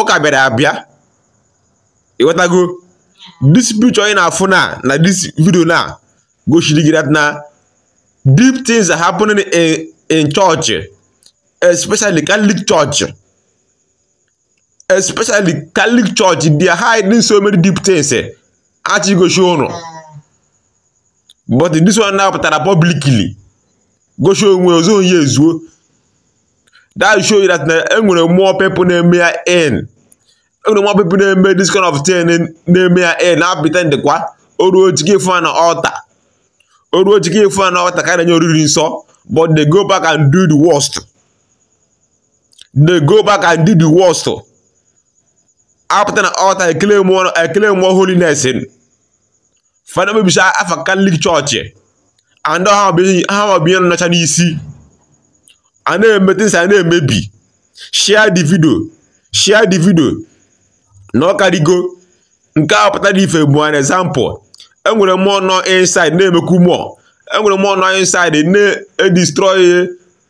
ụka bịara abịa ịghọtago this picture ị na-afụ na na this video now gosiri gị na deep things are happening in in church especially Catholic church especially Catholic church they are hiding so many deep things eh? achị gosi ụnụ but this one now pụtara publicly gosi onwe ozo onye ezuo that show you that na enwere more people na-eme ya in enwere more people na-eme this kind of thing na-eme ya in na-epretend kwa o ruo ike ife na altar o ruo ike ife na altar ka na-enye oriri nsọ but they go back and do the worst they go back and do the worst apụta na altar eclaim more holiness fa na-emebisi afa Catholic church and ha bụ ndị nọcha n'isi a na-eme things a na-emebi share the video share the video na ọ karịgo nke a pụtara ife bụ an example enwere more nọ inside na-emekwu more enwere more nọ inside na-edestroy